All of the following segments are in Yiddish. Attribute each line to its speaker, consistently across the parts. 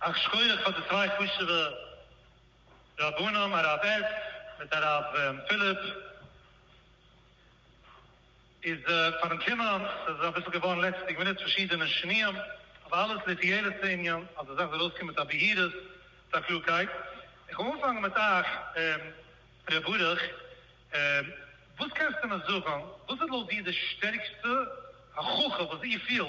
Speaker 1: א שכויעך פאר די צוויי חשובע רבנים הרב עדס מיט הרב פיליפ איז פארן קומען, סאיז אביסל געווארן לעצטיג מינוט פארשידענע שינויים אבער אלעס לתועלת הענין אז די זאך זאל אויסקומען מיט א בהירות מיט א קלארקייט, איך וויל אנפאנגען מיט אייך ר' ברוך וואס קענסטו מיר זאגען וואס איז לויט דיר די שטערקסטע הכחה וואס איר פילט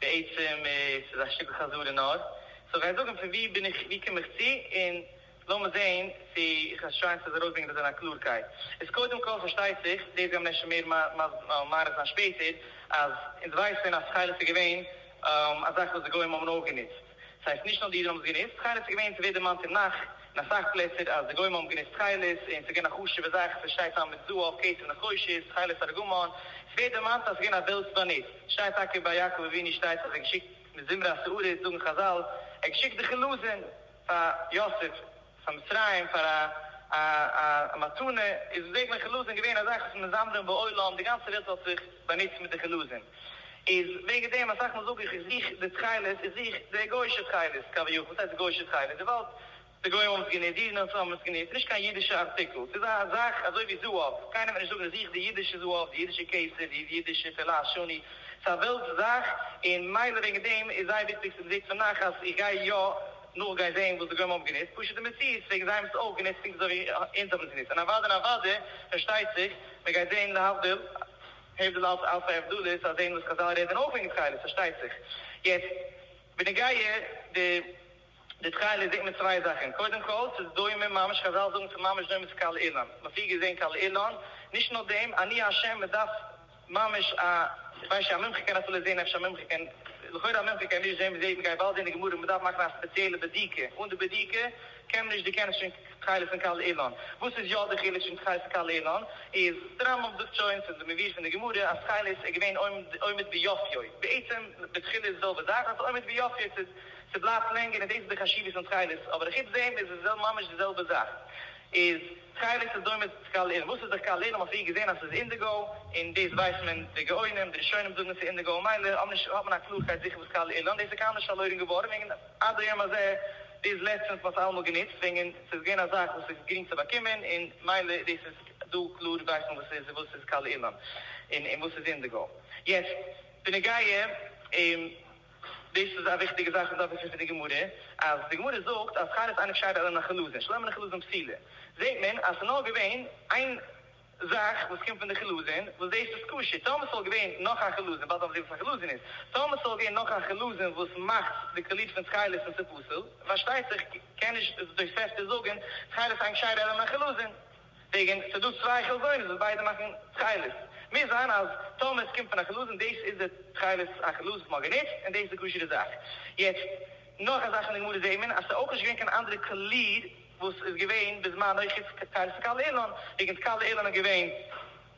Speaker 1: בעצם איז ס'איז א שטיקל חזרה נאר סאו גיי זאגן פון ווי בין איך ווי קום איך צו און לאמיר זעהן צו איך וועל טרייען צו עס ארויסברענגען דאס אין א קלארקייט איז קודם כל פארשטייט זיך דאס גיימיר אפשר מער מאריך זיין שפעטער אז אונז ווייסען אז תכלת איז געווען א זאך וואס די גוים האבן אויך גענוצט. ס'הייסט נישט נאר די אידן האבן עס גענוצט, תכלת איז געווען, ס'ווערט דערמאנט אין נח אין אסאך פלעצער אז די גוים האבן גענוצט תכלת און ס'איז געווען א חשוב'ע זאך, ס'שטייט טעם מיט זהב, כסף נחושת, תכלת ארגמן, ס'ווערט דערמאנט אז ס'איז געווען א וועלטס באנוץ, ס'שטייט טאקע ביי יעקב אבינו שטייט אז ער געשיקט מזמרי השערות זאגן חזל, ער געשיקט די חלזון פאר יוסף. ס'מצרים פאר א א מתנה איז וועגליך חילוזין געווען א זאך וואס מזמרים בעולם די גאנצע וועלט האט זיך באנוצט מיט די חילוזין איז וועגן דעם אסאך מאל זאג איך איך זוך די תכלת איך זוך די גוישע תכלת קאווע יאך וואס הייסט גוישע תכלת וויבאלד די גוים האבן עס גענוצט די אידן האבן עס גענוצט ס'נישט קיין אידישע ארטיקל ס'איז א זאך אזוי ווי זהב קיינער וועט נישט זאגן איך זוך די אידישע זהב די אידישע כסף די אידישע פלאש שני ס'איז א וועלטס זאך און מילא וועגן דעם איז זייער וויכטיג ס'איז די וועג פון נחת איך גיי יא נאר גיי זעהן וואס די גוים האבן גענוצט, פשוט די מציאות וועגן זיי האבן עס אויך גענוצט פונקט אזוי ווי אונז האבן עס גענוצט, און אוואדי נאוואדי פארשטייט זיך, מען גייט זעהן להבדיל, הבדל אלץ אלץ א הבדלה איז צו זעהן וואס חזל רעדן אויך וועגן תכלת פארשטייט זיך, יעצט בנוגע די די תכלת זעהט מען צוויי זאכן, קודם כל ס'איז דומה ממש חזל זאגן ס'איז ממש דומה צו קל אילן, מ'האט פריער געזעהן קל אילן, נישט נאר דעם אני השם מ'דארף. ממש א כ'ווייס נישט, א מומחה קען אפילו זעהן, אפשר א מומחה קען, לכאורה א מומחה קען נישט זעהן, מ'זעהט מ'גייט באלד זעהן די גמרא און מ'דארף מאכן א ספעציעלע בדיקה, אן די בדיקה קען מען נישט דערקענען שוין תכלת פון קל אילן, וואס איז יא די חילוק שוין תכלת און קל אילן איז, די רמב ם זאגט שוין פון די מביא פון די גמרא אז תכלת איז געווען עומד ביופיו, בעצם בתחילה איז די זעלבע זאך, אבער עומד ביופיו ס'איז ס'בלייבט לענגער און דאס איז די חשיבות פון תכלת, אבער חוץ דעם איז עס ממש די זעלבע זאך, איז. סקייליט איז דומה צו קאל עיר, וואס איז דער קאל עיר? האט מען פריער געזען אז ס'איז אינדיגאו, און דאס ווייסט מען, די גאונים, די ראשונים זאגן אז ס'איז אינדיגאו, ממילא האט נישט, האט מען א קלארקייט זיכער וואס קאל עיר לאנד איז, ס'איז קיינמאל נישט פארלוירן געווארן, און עד היום הזה, ביז לעצטענס, מ'האט עס אלעמאל גענוצט, וועגן ס'איז געווען א זאך וואס איז גרינג צו באקומען, און מילא דאס איז דא קלאר ווייסט מען וואס ס'איז, וואס איז קאל עיר לאנד, און וואס איז אינדיגאו. יעצט, בנוגע. דאס איז א וויכטיגע זאך וואס דארף וויסן פון די גמרא, אז די גמרא זאגט אז שכר איז אייניג שייך אלא לחילוזין, שלא עמלין חילוזין פסילה, זעט מען אז ס'איז נאר געווען איין זאך וואס קומט פון די חילוזין, וואס דאס איז קשה, טאמער ס'וואלט געווען נאך א חילוזין, באלד וועלן מיר זען וואס א חילוזין איז, טאמער ס'וואלט געווען נאך א חילוזין וואס מאכט די טלית פון תכלת און ס'פסול, פארשטייט זיך קען נישט די תוספתא זאגן שכר איז אייניג שייך אלא לחילוזין. וועגן ס'דא צוויי חלזונות וואס ביידע מאכן תכלת, מוז זיין אז טאמער עס קומט פון א חלזון דאס איז די תכלת החלזון וואס מ'האט גענוצט און דאס איז די כשר'ע זאך. יעצט נאך א זאך אין די גמרא זעהט מען אז ס'איז אויך נישט געווען קיין אנדערע קאליר וואס איז געווען בזמנו חוץ תכלת קל אילן, וועגן תכלת אילן איז געווען.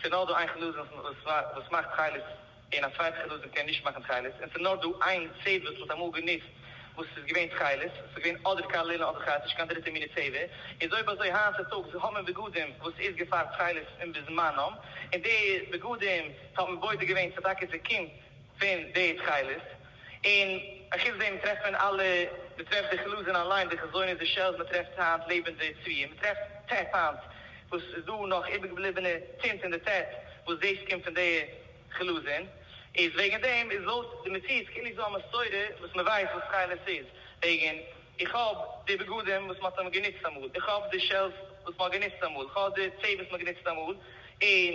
Speaker 1: ס'איז נאר דא איין חלזון וואס מאכט תכלת און א צווייטע חלזון קען נישט מאכן תכלת, און ס'איז נאר דא איין צבע וואס מ'האט אמאל גענוצט וואס איז געווען תכלת, ס'איז געווען אדער קיין לילא אדער קיין נישט קיין דריטע מיני צבע, איז אויב אזוי היינט צוטאגס האט מען בגדים וואס איז געפאר תכלת און בזמנם, און די בגדים טאר מען בודק געווען צו טאקע ס'קומט פון די תכלת. און אחוץ דעם טרעפט מען אלע, מ'טרעפט די חלזון אליין, די חזונות, די שעלס, מ'טרעפט היינט לעבענדע צבי'ן, מ'טרעפט טעפ היינט, וואס איז דא נאך איבערגעבליבענע טינט אין די טעפ, וואס דאס קומט פון די חלזון, איז וועגן דעם איז לויט די מציאות כאילו איז דא א מסורה וואס מ'ווייסט וואס תכלת איז, וועגן איך האב די בגדים וואס מ'האט אמאל גענוצט אמאל, איך האב די שעלס וואס מ'האט גענוצט אמאל, כ'האב די צער וואס מ'האט גענוצט אמאל, און.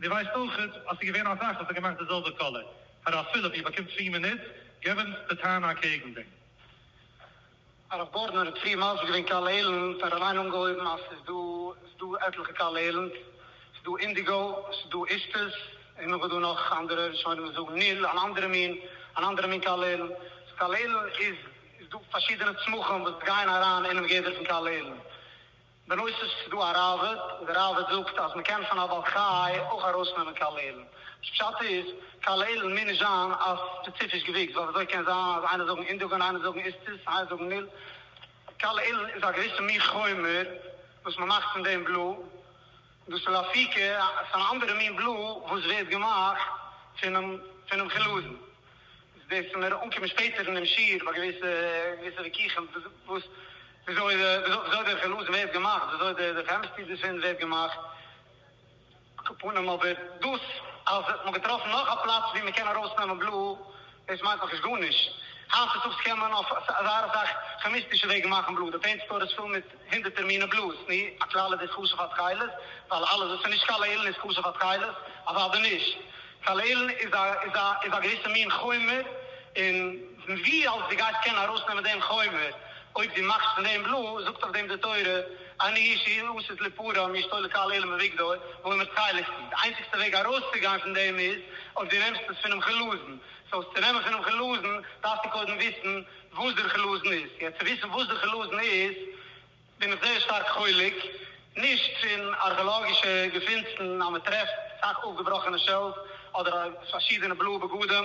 Speaker 1: און דו ווייסט אויך אז ס'איז געווען א זאך וואס האט געמאכט די זעלבע קאליר. הרב פיליפ, איר באקומט צוויי מינוט, געב אונז די טענה אקעגן דעם. הרב גארדנער האט פריער מסביר געווען קאליר איילענד, ער האט אליין אנגעהויבן אז ס'איז דא, ס'איז דא עטליכע קאליר איילענדס, ס'איז דא אינדיגא, ס'איז דא אישטעס, און נאך איז דא נאך אנדערע, ראשונים וואס זאגן ניל, אן אנדערע מין, אן אנדערע מין קאליר איילענד. סאו קאליר איילענד איז, איז דא פארשידענע צמחים וואס גייען אריין אינעם גדר פון קאליר איילענד. בנוסף איז דא א ראבד, און די ראבד זאגט אז מ'קען פון א בעל חי אויך ארויסנעמען קאלערן. וואס פשט איז, קאלערן מוז נישט זיין א ספעציפיש געוויקס, ווייל וויאזוי קען זיין אז איינער זאגן אינדוגען, איינער זאגן איסטוס, איינער זאגן ניל. קאלערן איז א געוויסע מין חומר וואס מ'מאכט פון דעם בלא. דאס איז א פיקע, ס'איז אן אנדערע מין בלו וואס ווערט געמאכט פונעם פונעם חלזון. דאס וועט מיר אנקומען שפעטער אין דעם שיעור ביי געוויסע געוויסע וויכוחים וואס וויאזוי וויאזוי דער חלזון ווערט געמאכט, וויאזוי דער דער כעמיסטרי דערפון ווערט געמאכט. על כל פנים אבער דאס אז מ'האט געטראפן נאך א פלאץ וואו מ'קען ארויסנעמען בלו, דאס מיינט נאכנישט גארנישט. היינט צוטאגס קען מען אויף אזא אסאך כעמיסטישע וועגן מאכן בלוט. די פעינט סטאר איז פול מיט הונדערטער מיני בלוט. נו, א כלל איז דאס כשר פאר תכלת, ווייל אלעס וואס איז נישט קל לעילן איז כשר פאר תכלת? אוודאי נישט. קל לעילן איז א געוויסע מין חומר, און ווי אלס דו גייסט קענען ארויסנעמען דעם חומר אויב דו מאכסט פון דעם בלוט, זאגט אויף דעם די תורה, אין אישי, וואס איז לפרעה מאשתו לקהל עילם אביגדור, וואו מיר טייליכסטן. די איינציגסטע וועג ארויסצוגיין פון דעם איז אויב דו נעמסט עס פונעם חלזון. סאו עס צו נעמען פונעם חלזון דארפסטו קודם וויסן וואס דער חלזון איז. יעצט צו וויסן וואס דער חלזון איז בין איך זייער שטארק חולק. נישט פון ארכעלאגישע געפינסן אז מען טרעפט אסאך אויפגעבראכענע שעלס אדער פארשידענע בלויע בגדים.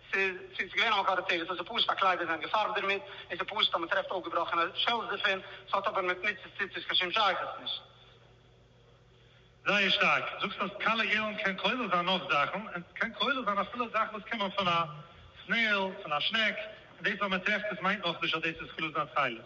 Speaker 1: ס'איז געווען א מקור די תירוץ אז די פאות פאר קליידער זענען געפארבט דערמיט, און ס'איז פשוט אז מ'טרעפט אויפגעבראכענע שעלס דערפון, ס'האט אבער מיט מצות ציצית קיין שום שייכות נישט. זייער שטארק זאגסט אז קאלער געלן קען כולל זיין נאך זאכן, און ס'קען כולל זיין אפילו זאכן וואס קומען פון א סנעיל, פון א שנעק, און דאס אז מען טרעפט עס מיינט נאכנישט אז דאס איז חלוזי התכלת.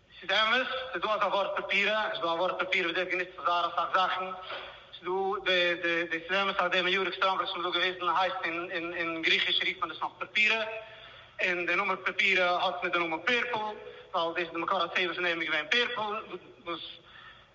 Speaker 1: ס'איז אמת, ס'איז דא אזא ווארט פאפירא, ס'איז דא א ווארט פאפיר וואס ווערט גענוצט צו זייער אסאך זאכן, ס'איז דא די די די ס'איז אמת אז די מיורעק סטאון וואס מ'האט דא געוויזן הייסט אין אין אין גריכיש רופט מען דאס נאך פאפירא, און די נאמען פאפירא האט מיט די נאמען פערפל, ווייל דאס איז די מקור הצבע פון דעם איז געווען פערפל, וואס.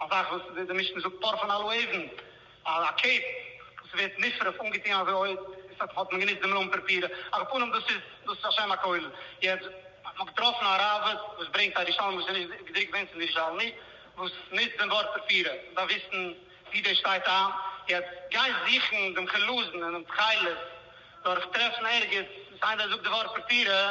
Speaker 1: א זאך וואס די משנה זאגט פאר פון אלו עיזן, א קעפ וואס ווערט נשרף אנגעטוען אזוי אויב עס האט האט מען גענוצט די מלון פרפירא, על פנים דאס איז דאס איז א שם הכולל, יעצט האט מען געטראפן א ראבד וואס ברענגט א ראשון וואס איז נישט געדרוקט געווען צום ירושלמי וואס נוצט דעם ווארט פרפירא, איך דארף וויסן ווי דאס שטייט איין, יעצט גיין זוכן דעם חלזון אינעם תכלת דורך טרעפן ערגעץ וואס איינער זאגט די ווארט פרפירא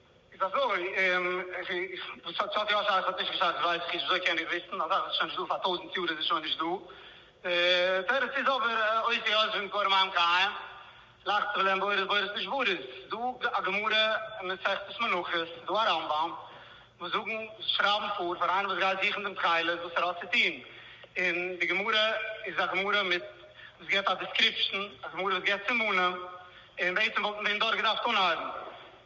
Speaker 1: איז אזוי, וואס האט ס'האט יא שייכות נישט געשייכות ווייס איך נישט וויאזוי קען איך וויסן א זאך וואס איז שוין נישט דא פאר טויזענט יאר איז עס שוין נישט דא תירוץ איז אבער אויך די יושבים כרם מים קיים לאכט זיך להם בורות בורות נשבורות דא א גמרא אין מסכת מנחות דא א רמב ם וואס זאגן שרייבן פאר פאר איינער וואס גייט זוכן דעם תכלת וואס ער האט צו טון און די גמרא איז א גמרא מיט וואס גיבט א דיסקריפשן א גמרא וואס גיבט סימנים און בעצם וואלטן דעם דארט געדארפט אנהייבן.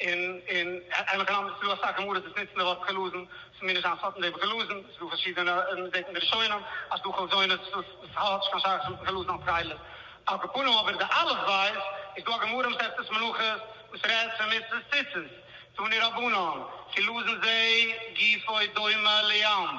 Speaker 1: און און עמך און אמך, ס'דא אסאך גמרות וואס נוצן די ווארט חלזון, ס'איז מיר נישט זיין סותר דעם חלזון, ס'איז דא פארשידענע, מען זעט אין די ראשונים אז ס'איז דא חלזונות וואס וואס האט נישט קיין שייכות מיטן חלזון אלס חלה. על כל פנים אבער די אלף בית איז דא א גמרא אין מסכת מנחות וואס רעדט פון מצות ציצית, תני רבנן, חלזון זה גופו דומה לים.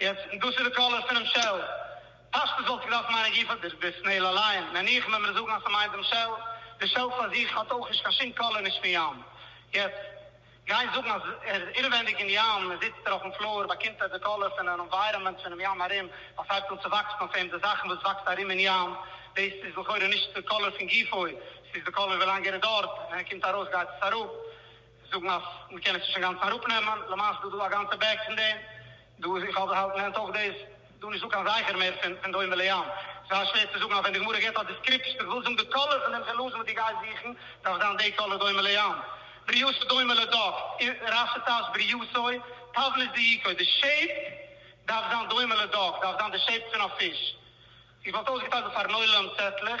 Speaker 1: יעצט, דאס איז די קאלער פונעם שעל. פשטות וואלט איך געדארפט מיינען גופא די די סנעיל אליין, נניח מען מיר זאגן אז ס'מיינט דעם שעל. די שעל פאר זיך האט אויך נישט קיין שום קאלער נישט פון ים. יעצט, גיין זאגן אז ער איז אינעווענדיג אין ים, זיצט ער אויפן פלאר, באקומט ער די קאלער פון אן ענווייראמענט פונעם ים ארום, ווייל ס'הייבט אן צו וואקסן אויף אים די זאכן וואס וואקסט ארום אין ים. דאס איז לכאורה נישט די קאלער פון גופא, ס'איז די קאלער ווילאנג ער איז דארט, ווען ער קומט ארויס גייט עס אראפ. זיי זאגן אז מ'קען עס נישט אינגאנצן אראפנעמען, למעשה איז דא דא א גאנצע בעג פון דעם, דא איז איך האלב האלב נענט אויך דאס, ס'איז דא נישט דא קיין זכר מער פון דומה לים, ס'זייער שווער צו זאגן אז ווען די גמרא גיבט א דיסקריפשן וואס וויל זאגן די קאלער פון דעם חלזון וואס דו גייסט זוכן דארף זיין די קאלער דומה לים, בריאותו דומה לדג, רשי טייטשט בריאותו, תבנית דייקו, די שעיפ דארף זיין דומה לדג, דארף זיין די שעיפ פון א פיש, איך וואלט אויסגעטיילט דא פארן עולם צעטלעך.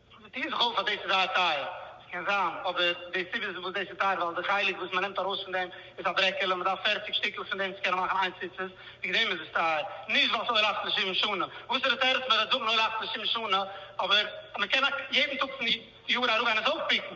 Speaker 1: מיט איר זיך אויס אז דאס איז זייער טייער. עס קען זיין, אבער די סיבה איז וואס דאס איז טייער ווייל די חלק וואס מען נעמט ארויס פון דעם איז א ברעקעלע, מען דארף פערציג שטיקל פון דעם צו קענען מאכן איין ציצית, וועגן דעם איז עס טייער, נישט ווייל עס אויל אכט און שבעים שנה. וואסערע תירוץ מען וועט זאגן אויל אכט און שבעים שנה, אבער מען קען יעדן טאג פון יאר אראפגיין עס אויפפיקן,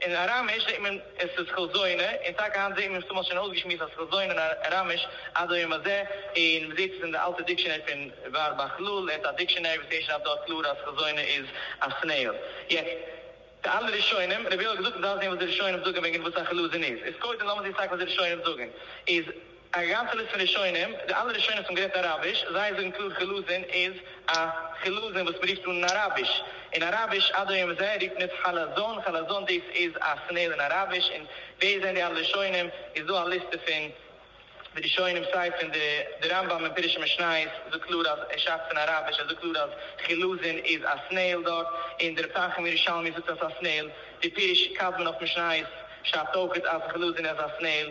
Speaker 1: אין אראמיש זעהט מען עס איז כל זונה, און טאקע היינט זעהט מען עס צומאל שוין אויסגעשמועסט אז כל זונה אין אראמיש עד היום הזה, און מען זעהט עס אין די אלטע דיקשענערי פון ור ב כ ל אין ת א דיקשענערי וואס הערשט אויף דארט קלאר אז כל זונה איז א סנעיל. יעצט די אלע ראשונים, רביה'לע האט געזאגט מען דארף זעהן וואס די ראשונים זאגען וועגען וואס א כל זונה איז, איז קודם לאמיר זעהן סטאק וואס די ראשונים זאגען איז, א גאנצע ליסט פון ראשונים, די אלע ראשונים וואס האבן גערעדט אראביש, זיי זאגן קלאר חילזון איז א חילזון וואס מען רופט אן אין אראביש, און אראביש עד היום הזה רופט מען עס חלזון, חלזון דאס איז א סנעיל אין אראביש, און ווער זענען די אלע ראשונים, איז דא א ליסטע פון די ראשונים סיי פון די די רמב ם אין פירושי משניות זאגט קלאר אז ער שרייבט פון אראביש, ער זאגט קלאר אז חילזון איז א סנעיל דארט, און די רב טייכער אין ירושלמי זאגט אז עס איז א סנעיל, די פירוש קדמון אויף משניות שרייבט אויך אז חילזון איז א סנעיל.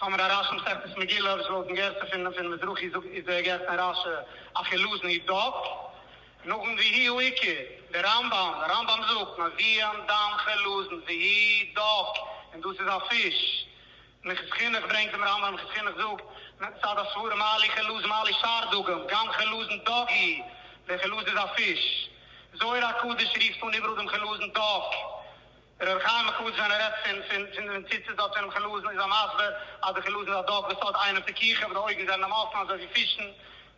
Speaker 1: סאמר א רש מסכת מגילה וואס לויטן גרסה פון פון מזרחי זאגט איז דער גרסה פון רש י אחי לוזני דב נאכן והי' הוא עיקר דער רמב ם דער רמב ם זאגט מביאן דמ ח לוזן והי' דב און דאס איז א פיש מכת חינוך ברענגט דעם רמב ם מכת חינוך זאגט מצד הסברה מעלי חלוז מעלי שאר דגים גם חלוזן דג הי' דער חלוז איז א פיש זוהר הקדוש ריפט אן איבעראל דעם חלוזן דג רבי חיים מחדש ווען ער רעדט פון פון פון ווען ציצית האט פון אים חלזון איז ער מסביר אז די חלזון איז א דארט וואס האט איינער פיקוחא וואס די אויגן זענען אים אפן אזוי ווי פישן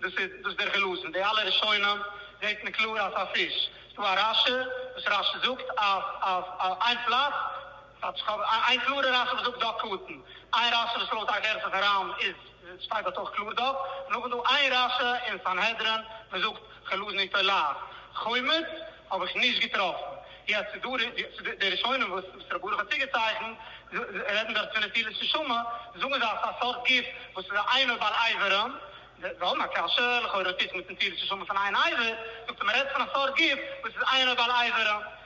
Speaker 1: דאס איז דאס איז דער חלזון די אלע ראשונים זעהט מען קלאר אז ס'איז א פיש ס'דא א רשי וואס רשי זאגט אז אז אז איין פלאץ איין קלארע רשי וואס זאגט דא קטן איין רשי וואס לויט א גרסה פון רמ איז שטייט דארט אויך קלאר דארט, נאך איז דא איין רשע אין סנהדרין וואס זאגט כ'לאז נישט עוליו חומץ, האב איך נישט געטראפן. יעצט איז דא די ראשונים וואס רבי ברוך האט צוגעצייכנט, רעדן דארט פון נטילת נשמה, זאגן זיי אז ס'איז א סארט גוף וואס איז א עינו בעל עיברים, זיי האבן א קשיא, לכאורה האט עס נישט מיט נטילת נשמה פון עין עיוור, זאגט ער מ'רעדט פון א סארט גוף וואס איז עינו בעל עיברים.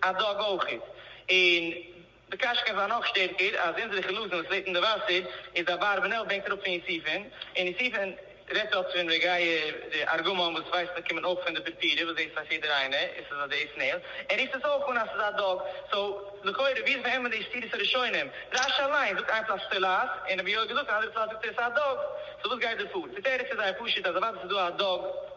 Speaker 1: א דאג אויך איז. און די קשקש איז נאך שטערקער אז אונזערע חילזון וואס לעבט אין די וואסער איז אברבנאל בענקט אראפ פון יוסיפון און יוסיפון רעדט אפט פון רעגאיא די ארגמן וואס ווייסט מען קומען אויך פון די פורפירא וואס דאס ווייסט יעדער איינער און ס'איז אזוי סנעיל ער רופט עס אויך אן אז ס'איז א דאג סאו לכאורה ווי איז באמת די סתירות הראשונים רשי אליין זאגט איין פלאץ סטילאס און רבי יואל געזאגט און אנדערע פלאץ זאגט ער עס א דאג סאו וואס גייט דא פאר די תירוץ איז זייער פשוט אז אוודאי ס'איז דא א דאג.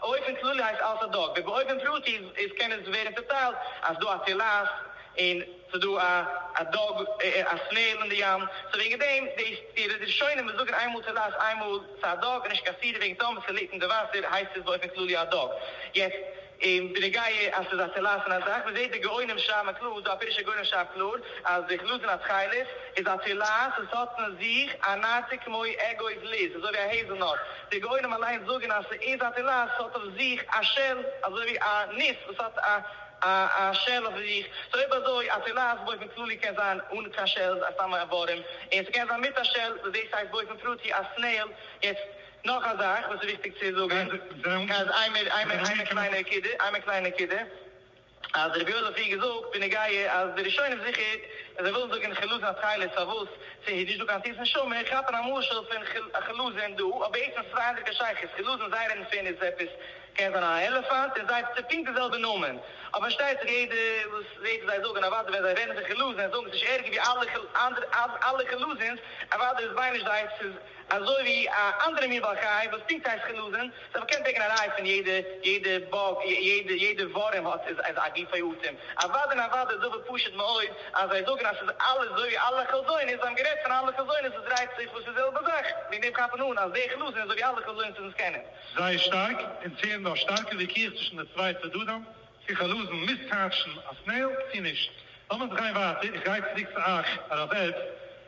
Speaker 1: באופן כללי הייסט אלס א דאג, ובאופן פרטי איז קען עס ווערן צעטיילט אז דא א טילאס און ס'דא א א דאג א סנעיל אין די ים, סאו וועגן דעם דאס די ראשונים וואס זאגן איינמאל טילאס איינמאל ס'איז א דאג נישט קיין סתירה וועגן טאמער ס'ליגט אין די וואסער הייסט עס באופן כללי א דאג, יעצט בנוגע אז ס'איז א טילאס און אזאך מ'זעט די גאונים שרייבן קלאר דא א פירוש הגאונים שרייבט קלאר אז די כלו זון התכלת איז א טילאס עס האט אין זיך א נאטע כמו עגוז ליז אזוי ווי א העזל נאט די גאונים אליינס זאגען אז ס'איז א תילה, ס'האט אויף זיך א שעל, אזוי ווי א ניס וואס האט א א שעל אויף זיך, סאו אויב אזוי א תילה אז באופן כללי קען זיין אן קיין שעל איז סתם א איברים, און ס'קען זיין מיט א שעל וואס דאס הייסט באופן פרטי א סנעיל, יעצט נאך א זאך וואס איז וויכטיג צו זאגען, איינער קליינע נקודה, אז רבי יואל האט פריער געזאגט בנוגעה אז די ראשונים זיכער ווען זיי ווילן זאגן חילוזין התכלת פארוואס ס'איז נישט דא קיין תות נשמה כאפן א משל פון חילוזין דא אבער בעצם ס'איז זייער אינדער קיין שייכות חילוזין זיי רעדן פון איז עפעס קען זיין א עלעפאנט און זייף ס'איז פונקט די זעלבע נאמען אבער פארשטייט זיך יעדער וואס זעהט וואס זיי זאגן אוודאי ווען זיי רעדן פון חילוזין זאגן ס'נישט ערגער ווי אלע אלע חילוזינס אוודאי איז ביי נישט זיי ס'איז אזוי ווי א אנדערע מין בעל חי וואס טונקט הייסט חלזון, זיי האבן געקענט ברענגען א ראיה פון יעדע יעדע באג יעדע יעדע ווארים האט איז איז א גופי אטעם, אוואדע און אוואדע איז אבער פשוט מאוד אז זיי זאגן אז ס'איז אלע אזוי ווי אלע חלזונות, זיי האבן גערעדט פון אלע חלזונות וואס דרייט זיך וואס איז זעלבע זאך, וועגן דעם כאפן אן אז דער חלזון איז אזוי ווי אלע חלזונות וואס אונז קענען. זייער שטארק און צו ענדע א שטארקע וויכוח צווישן די צוויי צדדים צו חלזון מוז טייטשן א סנעיל צו נישט. לאמיר זיך גיין ווייטער, איך גיי צוריק צו אייך הרב ערבס,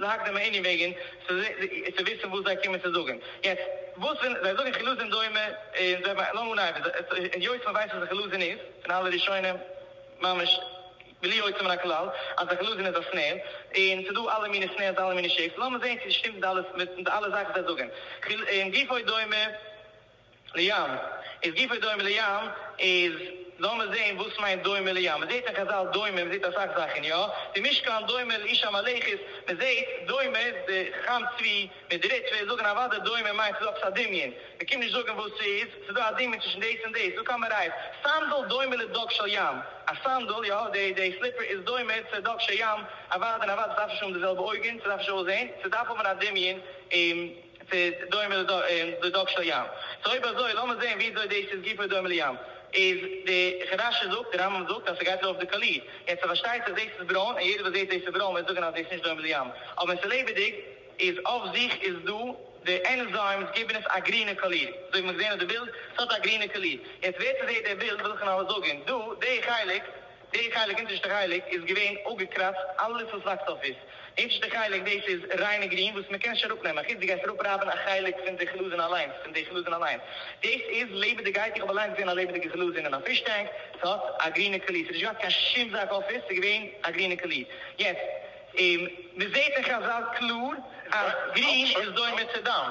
Speaker 1: זאגט דעם ענין וועגען צו וויסען וואס זיי קומען צו זאגען. יעצט וואס ווען זיי זאגען חילוזין דומה און זיי מיינען נאר אן עבד, היות מען ווייסט וואס א חילוזין איז פון אלע ראשונים ממש בלי יוצא מן הכלל אז א חילוזין איז א סנער און ס'איז דא אלע מיני סנערס אלע מיני שעיפס לאמיר זעהן צו ס'שטימט מיט אלע זאכן וואס זיי זאגען און גופו דומה. לים, איז גופא דומה לים, איז לאמיר זעהן וואס מיינט דומה לים, מען זעהט אין חזל דומה, מען זעהט אסאך זאכן יא, די משכן דומה לאיש המלאכות, מען זעהט דומה די חכם צבי מיט די ריטוויס זאגן אוודאי דומה מיינט ס'איז דא עפעס א דמיון, מען קומט נישט זאגן וואס ס'איז, ס'איז דא א דמיון צווישן דאס און דאס, דא קאן מען רייד, סנדל דומה לדג של ים, א סנדל יא, די די סליפער איז דומה צו דג של ים, אוודאי און אוודאי ס'דארף נישט האבן די זעלבע אויגן, ס'דארף נישט אויסזעהן, ס'דארף האבן א דמיון, און. ס'איז דומה לדגש לים. סאו אויב אזוי לאמיר זעהן וויאזוי דאס איז גופא דומה לים. איז די חדש י זאגט, די רמב ם זאגט אז ס'גייט לויף די קאליר. יעצט ס'פארשטייט זיך דאס איז ברוין און יעדער וואס זעהט דאס איז ברוין וועט זאגען אז דאס איז נישט דומה לים. אבער ווען ס'איז לעבעדיג איז אויף זיך איז דא די ענזיימס גיבען עס א גרינע קאליר. אזוי ווי מ'האט געזעהן אויף די בילד. ס'האט א גרינע קאליר. יעצט ווער ס'זעהט די בילד וויל איך נאר זאגען דא די חלק. די חלק אונטערשטע חלק איז געווען אפגעקראצט אלעס וואס וואקסט אויף איז אונטערשטע חלק דאס איז ריינע גרין וואס מען קען נישט אראפ נעמען חוץ די גייסט אראפ רייבען א חלק פון די חלזון אליינס פון די חלזון אליינס דאס איז לעבעדיגייט איך האב אליינס געזען א לעבעדיגע חלזון אין א פיש טענק עס האט א גרינע קאליר עס האט נישט געהאט קיין שום זאק אויף עס עס איז געווען א גרינע קאליר יעצט מען זעט אין חזל קלאר אז גרין איז דומה צו דם.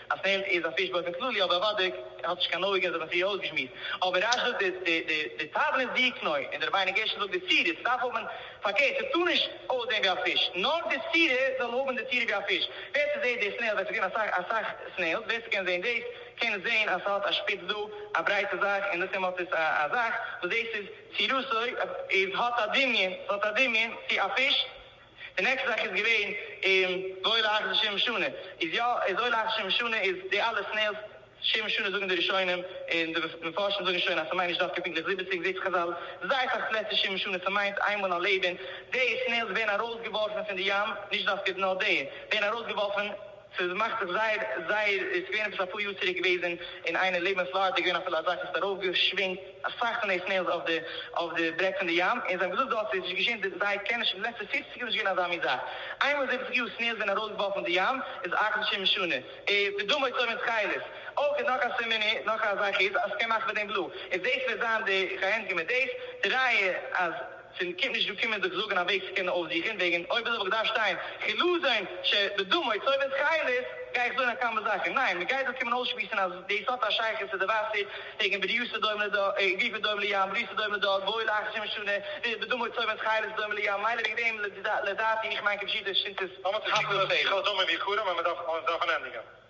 Speaker 1: א סענד איז א פיש באופן כללי אבער אוודאי האט נישט קיין אויגן זענען זיי אויסגעשמועסט אבער רש זאגט די תבן איז די קנוי און דער בייני געשער זאגט די סירה ס'דארף האבן פארקערט ס'טאר נישט אויסזען ווי א פיש נאר די סירה זאל האבן די צירה ווי א פיש ווער ס'זעהט די סנעיל ווער ס'געווען אסאך אסאך סנעילס ווער ס'קען זעהן דאס קען זעהן אז ס'האט א שפיץ דא א ברייטע זאך און דאסעם האט עס א א זאך וואס דאס איז צירותו איז האט א דמיון ס'האט א דמיון צו א פיש. די נעקסטע זאך איז געווען און ואוי לך זה שם משונה איז יא איז אוי לך זה שם משונה איז די אלע סנעילס שם משונה זאגן די ראשונים און די מפרשים זאגן שוין אז ס'מיינט נישט דווקא פונקטליך זיבעציג זעהט זיך חזל זייער אסאך פלעצער שם משונה ס'מיינט איינמאל א לעבן די סנעילס ווערן ארויסגעווארפן פון די ים נישט דווקא נאר די ווערן ארויסגעווארפן ס'איז מאכט זיך זייער זייער עס איז געווען עפעס אפאר יאר צוריק געוועזן אין איינער לעבענס לאהר האט ער געווען אפילו אזאך עס האט ארויף געשווינגט אסאך פון די סנעילס אויף די אויף די ברעג פון די ים און זיי האבן געזאגט דארט איז נישט געשען די זיי קענען שוין די לעצטע פֿופֿציק יאר נישט געווען אזא מין זאך איינמאל זיבעציק יאר סנעילס ווערן ארויס געווארפן אין די ים איז אכט אנשי משונה ע ו דמו יצא מן צחילת אויך איז נאך א סימן איז נאך א זאך איז אז סקען מאכן מיט דעם בלו איז דאס וועט זיין די כהענדגעמען דאס די ראיה אז פון קומט נישט דא קומען זיך זאגן א וועג צו קענען אויפזוכן וועגן אויב וויל איך דארף שטיין חילזון ש בדמו צויבען תכלת גיי איך זאגן א כמה זאכן ניין מען גייט דא קומען אויסשמועסן אז דאס האט א שייכות צו די וואסער וועגן בריותא דומה לד' גופא דומה לים בריותא דומה לד' גוי לאחר שמן שנה ו בדמו צויבען תכלת דומה לים מילא וועגן דעם לדעתי איך מיין כפשוטו שטות. למה צו קוקן אויף די כל דמים ויקרים ווען מען דארף עס דארף מען ענדיגען.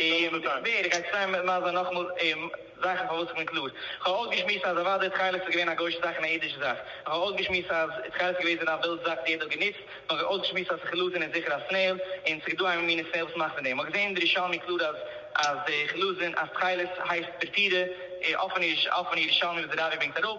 Speaker 1: און ווער גייט זיך טרייען מיט מזר נאכאמאל אים זאכן פארוואס איך בין קלאר. איך האב אויסגעשמועסט אז אוודאי תכלת איז געווען א גוי'שע זאך און א אידישע זאך. איך האב אויסגעשמועסט אז תכלת איז געוועזן א ווילד זאך וואס יעדער האט גענוצט. איך האב אויסגעשמועסט אז תכלת איז זיכער א סנעיל און ס'איז דא א מינע סנעיל וואס מאכט פון דעם. איך האב געזען אין די ירושלמי קלאר אז אז תכלת איז אז תכלת הייסט פרטירע אויפן ירושלמי וואס די רבי ברענגט אראפ.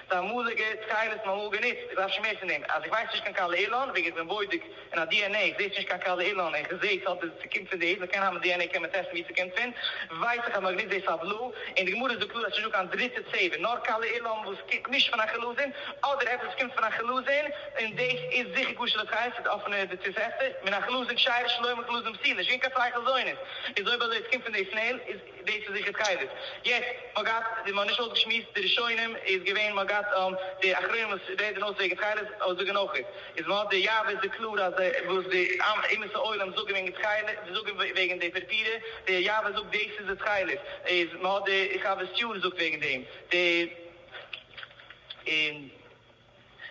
Speaker 1: ס'איז א אמאליגע סקייליס נארמאל גענוצט, איך דארף שוין מער פון דעם. אז איך ווייס נישט קיין קאלער אילאן, וועגן איך בין בודק אין א DNA איך זעה ס'נישט קיין קאלער אילאן און כ'זעה ס'האט די ס'קומט פון דאס, מ'קען האבן DNA קען מען טעסטן ווי ס'קומט פון, ווייס איך אז מ'האט גענוצט דאס פאר בלו, און די גמרא איז דא קלאר אז ס'נישט דא קיין דריטע צבע, נאר קאלער אילאן וואס קומט נישט פון א חילזון, אדער עפעס וואס קומט פון א חילזון, און דאס איז זיכער כשר לחיים, ס'איז אפענע די תוספתא, מן החלזון כשר'ס שלא יאמר חלזון פסיל, נישט געווען קיין צוויי חלזונות, איז אויב אזוי ס'קומט פון די סנעיל, איז. דאס איז זיכער סקייליס. יעצט מ'האט געהאט די מ'האט נישט אויסגעשמועסט די ראשונים איז געווען מ'האט געהאט די אחרונים וואס רעדען אויס וועגען סקייליס אויס זאגען אויך איז מ'האט די יאוועס די קלאר אז די וואס די אומות העולם זאגען וועגען סקייליס די זאגען וועגען די פערפירע די יאווע זאגט דאס איז די סקייליס איז מ'האט די חוות יאר זאגט וועגען דעם די.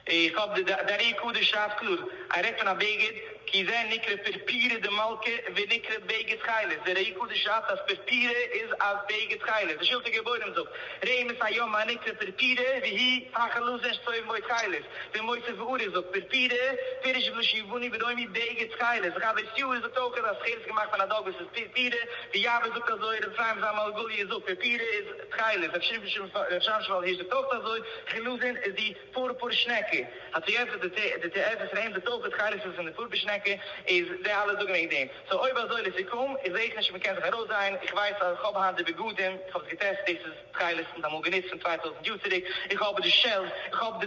Speaker 1: איך האב די די ארי קדוש שרייבט קלאר אז ער רעדט פון א בגד, כי זה נקרא פורפירא דמלכא ונקרא בגד תכלת, די ראי קדוש שרייבט אז פורפירא איז א בגד תכלת, די שולחן גבורים זאגט, ראה מס' יומא הנקרא פורפירא והיא פחי לוזין שצויב מוי תכלת, די מוסף ואורי זאגט פורפירא פירש בלשון יווני וראומי בגד תכלת, די חבר סיור זאגט אויך אז תכלת איז געמאכט פון א דאגוס איז פורפירא, די יאווער זאגט אזוי, ר' אפרים זלמן אלגאליע זאגט פורפירא איז. תחילה האט געשריבן, רב שאנשבאל הערשט דאך אויך אזוי, חילוזין איז די פורפור שנעקע, האט געענטפערט די ת ע פון אים, די תופת חילוזין פון די פורפור שנעקע איז די אלע זאגן וועגן דעם, סאו אויב אזוי לסיכום, איך זע איך נישט ווי מ'קען זיך ארויסזען, איך ווייס אז איך האב היינט די בגדים, איך האב עס געטעסט, דאס איז תכלת, מ'האט אמאל גענוצט פון צוויי טויזנט יאר צוריק, איך האב די שעלס, איך האב די.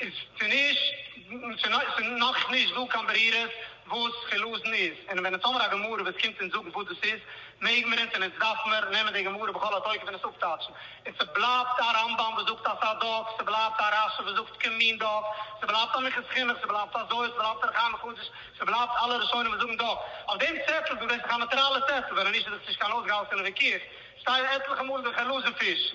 Speaker 1: איז ס'נישט, ס'נאך נישט דא קיין ברירות וואס חילזון איז, און ווען איטס אמר א גמרא וואס קומט אונז זאגן וואס דאס איז, מעג מיר אונז און איטס דארף מיר נעמען די גמרא בכל התוקף און עס אפטייטשן, און ס'בלייבט א רמב ם וואס זאגט א סא דאק, ס'בלייבט א רשי וואס זאגט כמין דאק, ס'בלייבט א מכת חינוך, ס'בלייבט א זוהר, ס'בלייבט א ר' חיים מחדש, ס'בלייבט אלע ראשונים וואס זאגן דאק. אויף דעם צעטל, דו וועסט זיך א נאטראלע צעטל וועלן, נישט איז עס נישט קיין אויסגעהאלטענע וויכוח, שטייען עטליכע מאל די חילזון פיש.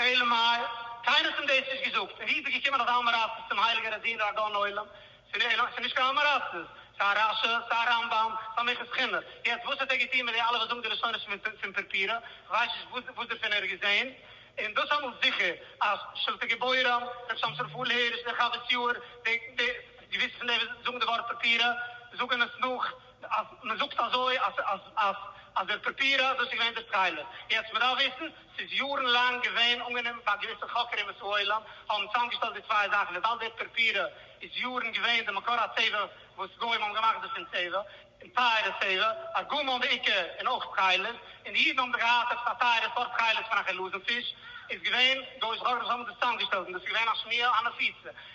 Speaker 1: אלא מאי, קיינער האט אים דאס נישט געזאגט, און ווי איז ער געקומען אזא אמעראצעס צום הייליגן רבי'ן דער אדון עולם? ס'איז נישט קיין אמעראצעס, ס'איז א רשע, ס'איז א רמבם, ס'איז א מכת חינה. יעצט וואס האט ער געטון מיט די אלע וואס זאגן די לשונות פון פורפירא? איך ווייס נישט וואס דערפון ער האט געזען, און דאס אמאל זיכער אז שלטי גבורים, ר' שמשון רפאל הירש, דער חוות יאיר, די געוויסע פון די וואס זאגן די ווארט פורפירא זאגן עס נאך, אז מען זאגט אזוי אז אז אז אז דער פאפירא דאס איז געווען דער סקיילער. יעצט מען דארף וויסן, ס'איז יארן לאנג געווען אנגענומען ביי געוויסע חוקרים וואס העולם האבן צוזאמגעשטעלט די צוויי זאכן וויבאלד דער פאפירא איז יארן געווען די מקור הצבע וואס גוים האבן געמאכט דערפון צבע און טייערע צבע, ארגומען בעיקר און אויך סקיילערס, און די אידן האבן זיך געהאט עפעס א טייערע סארט סקיילערס פון א חילזון פיש, איז געווען גוי'אישע חוקרים וואס האבן דאס צוזאמגעשטעלט און דאס איז געווען א שמיעה א נפיצה.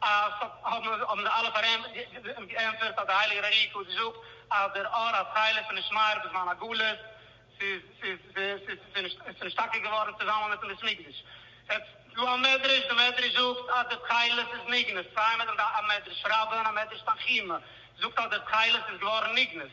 Speaker 1: אז האבן זיי אלע געענטפערט אז דער הייליגער ארי ק האט געזאגט אז דער אור התכלת פון איש מאיר בזמן הגלות ס'איז נישט טאקע געווארן צוזאמען מיטן בית מקדש. יעצט דא א מדרש, די מדרש זאגט אז דער תכלת איז נגנז, צוויי מדרשים דא א מדרש רבה און א מדרש תנחומא זאגט אז דער תכלת איז געווארן נגנז,